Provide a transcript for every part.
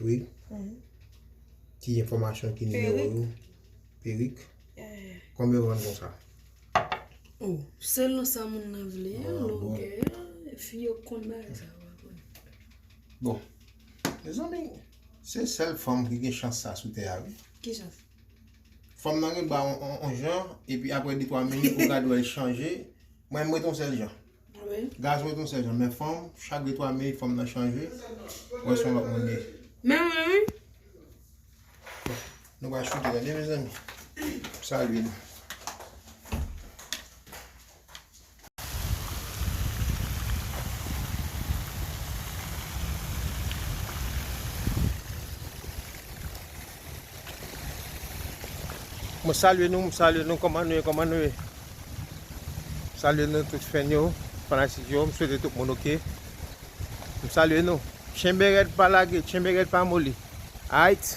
Wi. Ki enfòmasyon ki nimewo yo? Perik. Konbyen ou vann kon sa? Ou, selon sa moun nan vle, longè, fi yo konn bay sa yo a konn. Bon. Mezanmi, se sèl fanm ki gen chans sa sou tè a wi. Ki chans? Fanm nan gen ba on jan, epi apre 2-3 minit ou gad wè l chanje, mwen m ret on sèl jan. Gason ret yon sel jan men fanm chak de 3 minit fanm nan chanje wè son lot moun ye. Men mwen wi. Nou pa choute gade mezanmi. M salye nou. Mwen salye nou, mwen salye nou, kòman nou ye, kòman nou ye? Mwen salye nou tout fèn yo, fanatik yo, mwen swete tout moun oke. Mwen salye nou. Chenbe rèd pa lage, chenbe rèd pa moli. Ait!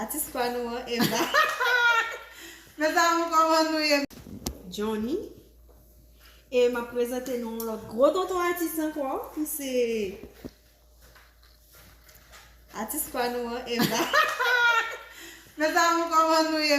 Atis pa nou an Eva. Mes amour koman nou ye. Johnny. E map prezante nou yon lot gwo tonton atis anko ki se Atis pa nou an Eva. Mes amour koman nou ye.